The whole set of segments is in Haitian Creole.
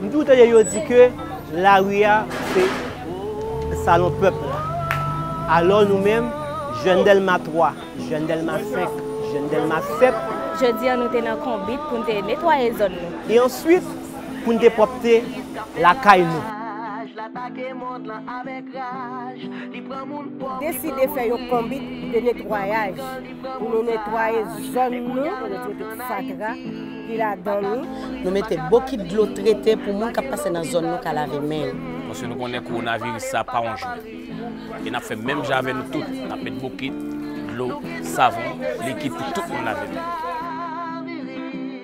M toujou tande yo di ke lari a se salon pèp la. Alò nou menm, jèn Dèlma 3, jèn Dèlma 5, jèn Dèlma 7. Jodi a nou te nan konbit pou n te netwaye zòn nou. E answit pou n te pwòpte lakay nou. Deside fè yon konbit de netwayaj. Pou nou netwaye zòn nou, nou mete pitit fatra ki ladan li. Nou mete bokit dlo trete pou moun k ap pase nan zòn nou ka lave men yo. Paske nou konnen kowonaviris sa pa yon jwèt. E n ap fè menm jan avè nou tout, n ap met bokit, dlo, savon, likid pou tout moun lave men.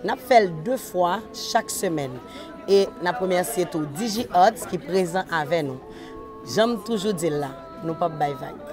N ap fè l de fwa chak semèn. E n ap remèsye tou Digi Arts ki prezan avè nou. Jan m toujou di l la, nou p ap bay vag.